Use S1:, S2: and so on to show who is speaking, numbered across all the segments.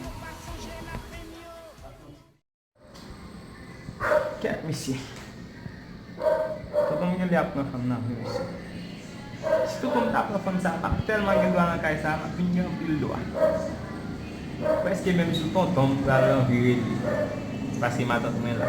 S1: Nou pa sonje lapenn yo. Kèt misye. Tonton Gele ap pran fanm nan vre mesye. Si tonton m ta pran fanm sa map telman gen dwa nan kay sa map vin gen anpil dwa. Preske menm sou tonton m pral anvi rele paske matant mwen la.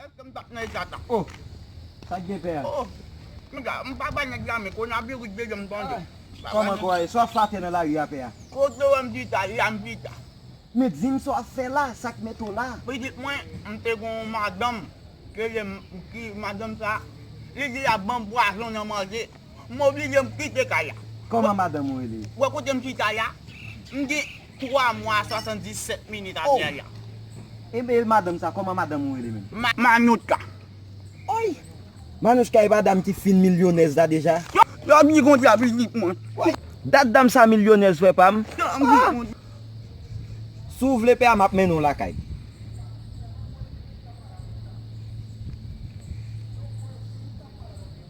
S2: Eske m tap nan eta sa oh.
S3: Sak gen pè a. Oh Piga
S2: m pa bay nèg la men konaviris dezyèm tande. Kòman kò a ye? Sa
S3: w ap fè atè nan lari a pè a? Kote w wè m chita
S2: la m chita. Men di m sa
S3: w ap fè la, sa k mete w la? Pitit mwen, m
S2: te gen yon madanm ki rele m ki madanm sa li di lap ban m pwazon nan manje. M oblije m kite kay la. Kòman madanm ou
S3: rele? Wè kote m chita la?
S2: M di 3 mwa a 77 minit a yaya. Oh! Ebyen e
S3: madanm sa, kòman madanm ou rele menm? Manouchka.
S2: Oy!
S3: Manouchka e pa dam ki fin milyonèz la deja? Yo bgy kondi a
S2: pi di pwen. Woy! Dat dam sa
S3: milyonèz frè pa m. Yo bgy kondi. Si w vle pè a m ap mennen w lakay.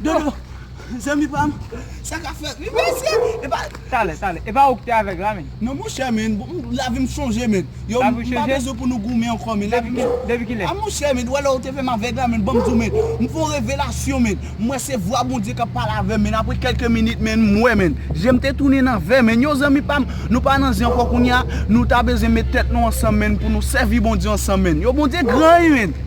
S2: Dodo, zanmi pam, sa ka fèt wi mesye, e pa. Talè, talè, e pa ou ki
S1: te avèg la men. Non monchè men,
S2: lavi m chanje men. Yo, m pa bezwen pou nou
S1: goumen
S2: ankò men. Lavi m chanje. Depi kilè? A monchè
S1: men, ou wè lè ou te
S2: fè m avèg la men, ban m di w men. M fè yon revelasyon men. M wè se vwa Bondye k ap pale avè m men. Apre kèlke minit men, m wè men. Je m te tounen nan vè men. Yo zanmi pam, nou pa nan zen ankò kounye a. Nou ta bezwen met tèt nou ansanm men pou nou sèvi Bondye ansanm men. Yo Bondye gran wi men.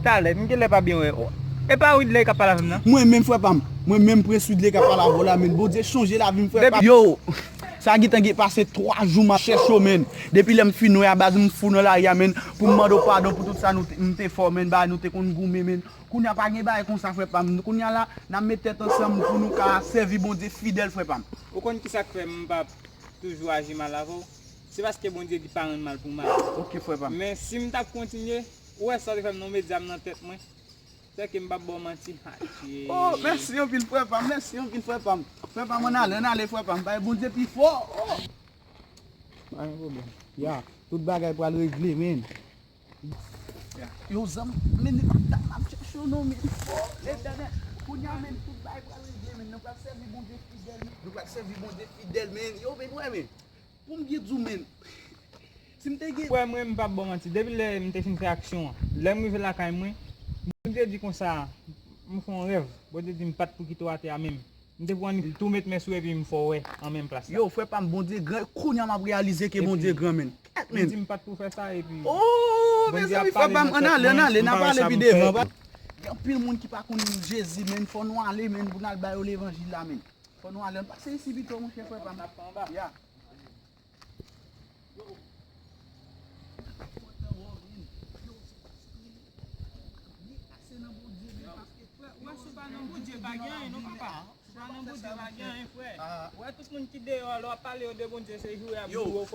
S1: Talè, m genlè pa byen wè ou. E pa widley kap pale avèm nan. Mwen menm frè pam.
S2: Mwen menm prince widley kap pale avèw la menn bondye chanje lavim frè pam. Yow Sa gintan gen pase 3 jou map chèche w menn Depi lèm fin wè a baz m fou nan lari a menn Pou m mande w padon pou tout sa nou te m te fè w menn Bagay nou te konn goumen menn Kounye a pa gen bagay konsa frè pam Kounye a la nap met tèt ansanm pou nou ka sèvi Bondye fidèl frè pam. Ou konn kisa k fè m
S1: pa toujou aji mal avè w Se paske Bondye di pa rann mal pou mal Ok frè pam. Men
S2: si m tap kontinye
S1: Ou wè sa ou te fèm non medyam nan tèt mwen Sè kem pap baw manti Haje. Oh
S2: mèsi anpil frè pam mèsi anpil frè pam frè pam an ale an ale frè pam bay Bondye pi fò oh.
S3: Pa gen pwoblèm ya tout bagay pral regle menn. Yo
S2: zanmi menn li pa dat map chèche yo non menn oh letènèl kounya menn tout bagay pral regle menn nou pral sèvi Bondye fidèl menn nou pral sèvi Bondye fidèl menn yo vin wè menn Poum byen diw menm si m te gen. Kwè mwen m pap baw manti
S1: depi lè m te fin fè aksyon an lèm rive lakay mwen Bondye di konsa m fè yon rèv Bondye di m pat pou kite w atè a menm m te pou annik l tou met men sou epi m fè w wè an menm plas la. Yow frè pam Bondye gran
S2: kounya map reyalize ke Bondye gran menn. Kèt menn. Li di m pat pou fè
S1: sa
S2: epi Ooh
S1: Bondye
S2: ap
S1: pale nan
S2: tèt
S1: mwen m
S2: pa wè
S1: sa
S2: poum fè. Gen anpil moun ki pa konn Jezi menn fò nou ale menn pou nal ba yo levanjil la menn. Fò nou ale, ann pase isi pito monchè frè pa m. Ya. Yo,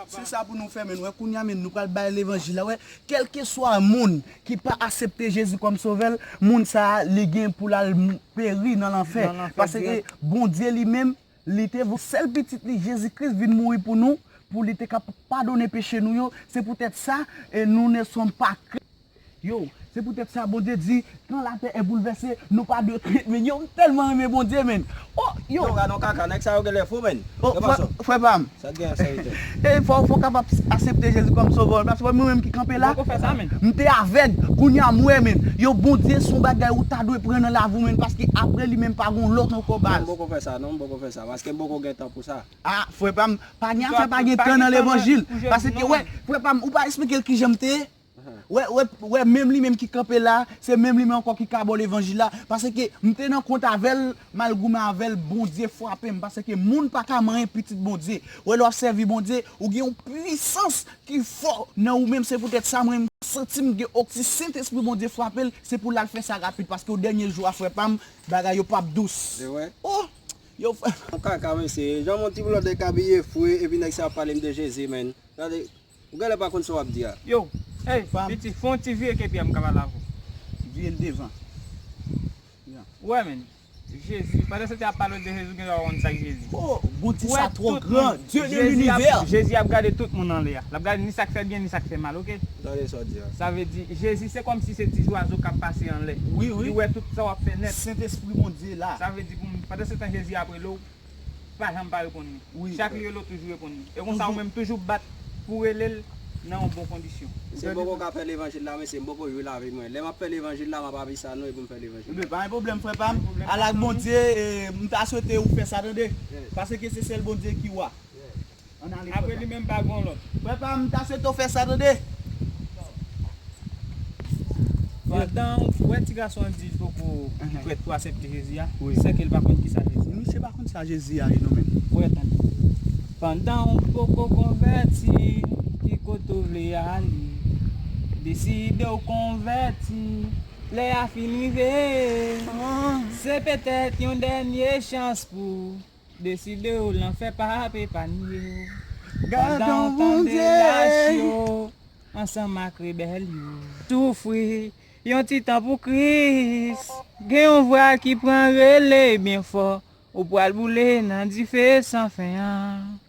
S2: se sa pou nou fè menn wè kounya menn nou pral bay levanjil la wè, kèlkeswa moun ki pa asepte Jezi kòm sovè l, moun sa a li gen pou l al peri nan lanfè. Paske Bondye li menm, li te voye sèl pitit li Jezi Kris vin mouri pou nou, pou li te ka padone peche nou yo. Se poutèt sa, nou ne sommes pas craints. Yo, se poutèt sa Bondye di, kan latè e boulvèse, nou pa dwe krent menn. Yo, m tèlman renmen Bondye menn. O, yo! Yo, gadon kaka, nèg sa yo
S4: genlè fou menn. O, frè pa
S2: m, Sa gen ak
S4: sa Ethan? E fòw fòw kapab
S2: asepte Jezi kòm sovè w paske mwen menm ki kanpe la m te avèg kounya m wè menn yo Bondye son bagay ou ta dwe pran nan lavi w menn paske aprè li menm pa gon lòt ankò baz. Non m poko fè sa non m poko
S4: fè sa paske m poko gen tan pou sa. A frè pam
S2: pa gen afè pa gen tan nan levanjil paske wè frè pam ou pa esplike l kijan m te ye. Wè menm li menm ki kanpe la, se menm li menm ankò ki kabò levanjil la, paske m te nan kont avèl, mal goumen avèl, Bondye frapem, paske moun pa ka manyen pitit Bondye, wè lè wap sèvi Bondye, ou gen yon pwisans ki fò nan ou menm, se poutèt sa mwen santim gen ok si Sentespri Bondye frapel, se poul al fè sa rapid, paske o dènye jou a frè pam, bagay yo pap dous oh!
S4: yow frè
S2: pam. Kaka mesye, jan
S4: mon ti blòdè k abiye fre epi nèg sa ap pale m de Jezi menn. Ou gèlè pa konn sa wap di a. Yo, hey
S1: piti fè yon ti
S2: vire ke
S1: piya m ka pale avè w. Vire l devan. Ou wè men. Jezi, pandan se te ap pale de Jezi ou gen lè wap wonn sak Jezi. Ho, Bondye sa
S2: twò gran,
S1: Dieu
S2: de
S1: l'univers.
S2: Jezi
S1: ap gade
S2: tout moun
S1: anlè a. Lap gade ni sak fè byen ni sak fè mal ok. Gade sa w di a. Sa
S4: vle di Jezi
S1: se kòmsi se ti zwazo kap pase anlè. Wi wi. Li wè tout sa
S2: wap fè nèt.
S1: Sentespri Bondye la.
S2: Sa vle di pou m, pandan se
S1: tan Jezi ap rele w. pa janm pa reponn li. Chak li rele w toujou
S2: reponn
S1: li. E konsa ou menm toujou bat pou w rele l nan yon bon kondisyon. Se boko kap fè
S4: levanjil la mesye m poko jwi lavi mwen lè map fè levanjil la map avi sa nou epim fè levanjil la. Pa gen pwoblèm frè pam,
S2: al ak Bondye, m ta swete ou fè sa tande, paske se sèl Bondye ki wa. An ale frè pam. Apre li menm pa gon
S1: lòt. Frè pam m ta swete w
S2: fè sa tande.
S1: Pandan ou wè ti gason an di li poko prèt pou asèpte Jezi a, se ke li pa konn
S2: kisa
S1: Jezi ye. Misye pa konn sa Jezi
S2: ya ye non menm. Wè tande.
S1: Pandan ou poko konvèti, ki kote ou vle ale? Deside w konvèti, lè a fin rive. Se petèt yon dènye chans pou. Deside w lanfè pa ap epanye w Pandan
S2: w tande lach yo ansanm
S1: ak rebèl yo Soufri yon ti tan pou Kris Gen yon vwa ki pran rele byen fò Ou pral boule nan dife san fen an.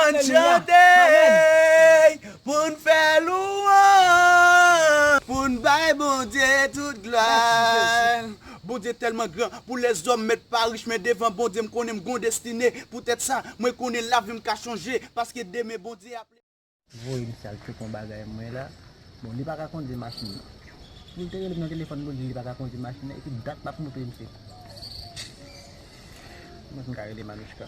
S2: Ann chante pou n fè louwanj. Pou n bay Bondye tout glwa. Mèsi Jezi. Bondye tèlman gran pou lèzòm mèt pa rich men devan Bondye m konnen m gon destine poutèt sa mwen konnen lavim ka chanje paske demen Bondye ap. Voye m sal
S3: fèk yon bagay mwen la. Bon li paka kondwi machin nan. Poul te relem nan telefòn poul di li paka kondwi machin nan epi dat lap montre misye. Kòman pou m ka rele Manouchka.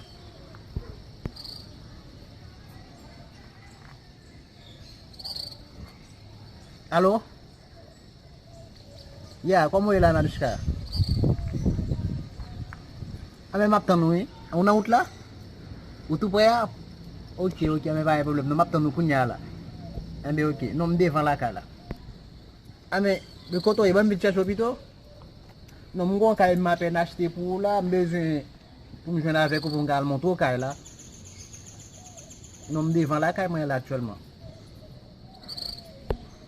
S3: Alo! Yeah kòman ou ye la Nanuchka? Anben map tann ou wi Ou nan wout la? Ou tou prè a? Ok ok anben pa gen pwoblèm non map tann ou kounya la Anben ok non m devan lakay la Anben men kote ou ye banm vin chèche ou pito Non m gon kay m apèn achte pou ou la m bezwen pou m jwenn avèk ou pou m ka al montre ou kay la Non m devan lakay mwen la aktyèlman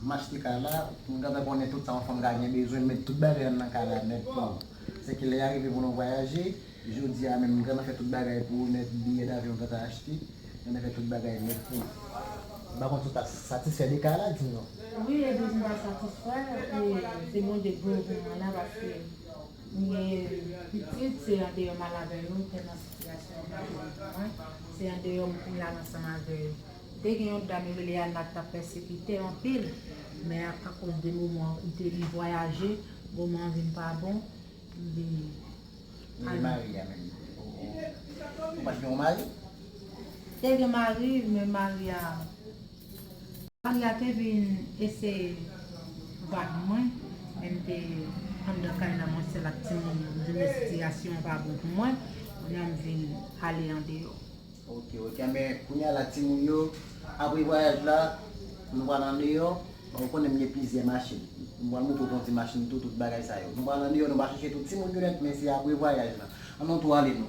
S5: Machte kay la, m gentan konnen tout sa yon fanm ka gen bezwen, m met tout bagay m nan kay la nèt pou ou. Se ke lè ya rive pou nou vwayaje, jodi a menm m gentan fè tout bagay pou ou nèt, biyè davyon m gentan achte, m gentan fè tout bagay nèt pou ou. M pa konn si w ta satisfè de kay la, di m non. Wi Edwige m ta
S6: satisfè, e se Bondye k voye w pou mwen la paske. Li ye pitit, se andeyò m al avè yo, tèlman sitiyasyon yo pa te bon pou mwen, se andeyò m vin la l ansanm avè yo. Te gen yon dam yo rele Anna k t ap pèsekite anpil, men akoz de moman an koute li vwayaje, moman an vin pa bon, li al
S5: marye. Te
S6: gen mari, men mari a Maria te vin eseye vag mwen men m te anndan kay la mwen sèl ak timoun yo m vin wè sitiyasyon an pa bon pou mwen kounye a m vin ale andeyò. Ok ok anben
S5: kounye a la timoun yo apre vwayaj la nou pral andeyò bon ou konnen m gen plizyè machin m pral montre w kondi machin tou tout bagay sa yo nou pral andeyò nou pa chache tout timoun yo nèt men se apre vwayaj la an nou tou ale nou